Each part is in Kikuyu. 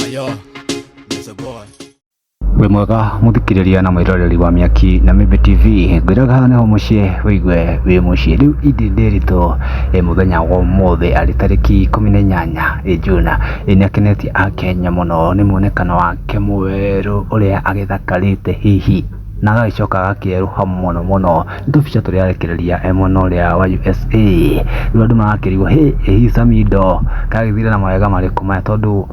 Ayo, Mr. Boy. wĩ mwega mũthikĩrĩria na mwĩroreri wa mĩaki na mĩmbi tv ngwĩraga haha nĩho mũciĩ wĩigue wĩ mũciĩ rĩu indi ndĩritũ ĩ mũthenya wa ũmũthĩ arĩ tarĩki ikũmi na inyanya ĩ juna ĩ nĩ akenetie akenya mũno nĩ mwonekano wake mwerũ ũrĩa agĩthakarĩte hihi na agagĩcoka agakĩerũha mũno mũno nĩ tũbica tũrĩa arekereria e mwena ũrĩa wa USA rĩu andũ magakĩrigwo hĩ ĩ hihi Samido karagĩthire na mawega marĩkũ maya tondũ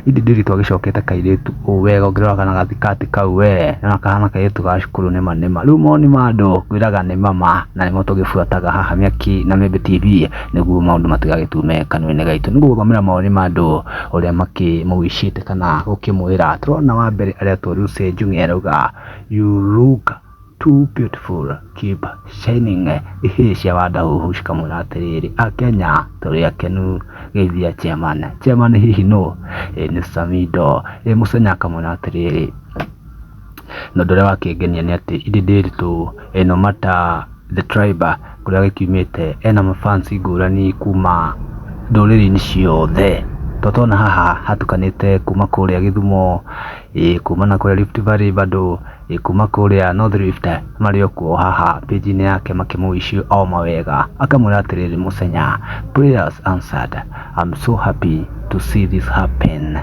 ithe ndĩrĩ twagĩcokete kairĩtu ũũ wega ũngĩrora kana gathikati kau we nĩwona kahana kairĩtu ga cukuru nĩma nĩma rĩu moni ma andũ ngwĩraga nĩ ma ma na nĩmo tũgĩbuataga haha Mĩaki na Mĩmbi TV. nĩguo maũndũ matigagĩtue me kanua-inĩ gaitũ. Nĩ ngũgũthomera mawoni ma andũ ũrĩa makĩmũgucĩte kana gũkĩmwĩra. Tũrona wa mbere aretwo Lucy Njung'e arauga you look too beautiful keep shining ihĩĩ cia wandaũhu cikamwĩra atĩrĩrĩ Akenya tũrĩ akenu geithia chairman. Chairman hihi nũ? Ĩĩ nĩ Samido. Ĩĩ Mũsaina akamwĩra atĩrĩrĩ. Na ũndũ ũrĩa wakĩngenia nĩ atĩ ithe ndĩritũ ĩ no mata the tribe kũrĩa gĩkiumĩte ena ma fans ngũrani kuma ndũrĩrĩ-inĩ ciothe. To tũrona haha hatukanĩte kuma kũrĩa Gĩthumo, kuma na kũrĩa Rift Valley bado, kuma kũrĩa North Rift marĩ o kuo haha page inĩ yake makĩ mũ wish o mawega. Akamwĩra atĩrĩrĩ Mũchenya prayers answered, I'm so happy to see this happen,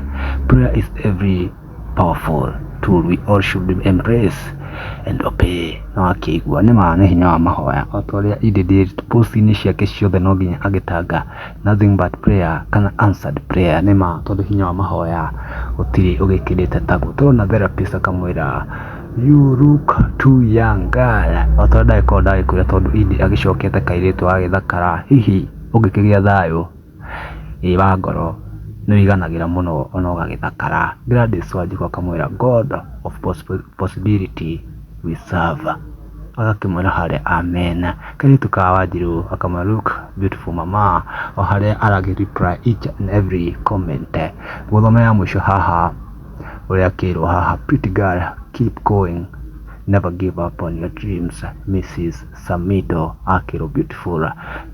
prayer is every... powerful tool we all should embrace and obey na wakĩigua nĩ ma nĩ hinya wa mahoya o ta ũrĩa Idi did post-inĩ ciake ciothe no nginya agĩtanga nothing but prayer kana answered prayer nĩ ma tondũ hinya wa mahoya gũtirĩ ũgĩkĩrĩte taguo tũrona therapist akamwĩra you look too young girl o ta ũrĩa ndagĩkorwo ndagĩkwĩra tondũ Idi agĩcokete kairĩtu agagĩthakara hihi ũngĩkĩgĩa thayũ ĩĩ wa ngoro nĩ ũiganagĩra mũno ona ũgagĩthakara. Gladys Wanjikũ akamwĩra God of possibility we serve agakĩmwĩra harĩa Amen. Kairĩtu ka Wanjirũ gakamwĩra look beautiful mama o harĩa aragĩ reply each and every comment. Ngũthomera ya mũico haha ũrĩa akĩrwo haha, pretty girl keep going never give up on your dreams Mrs. Samido Akĩrũ Beautiful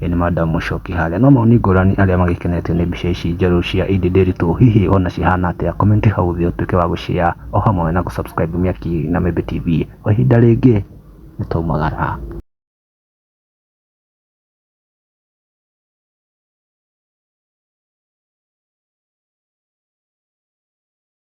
ĩĩ nĩ madam mũcoki harĩa no maoni ngũrani arĩa magĩkenetio nĩ mbica ici njerũ cia Idi Ndiritu hihi ona cihana atĩa comment hau thĩ ũtuĩke wa gũ share o hamwe na gũ subscribe Mĩaki na Mĩmbi TV kwa ihinda rĩngĩ nĩ twaumagara.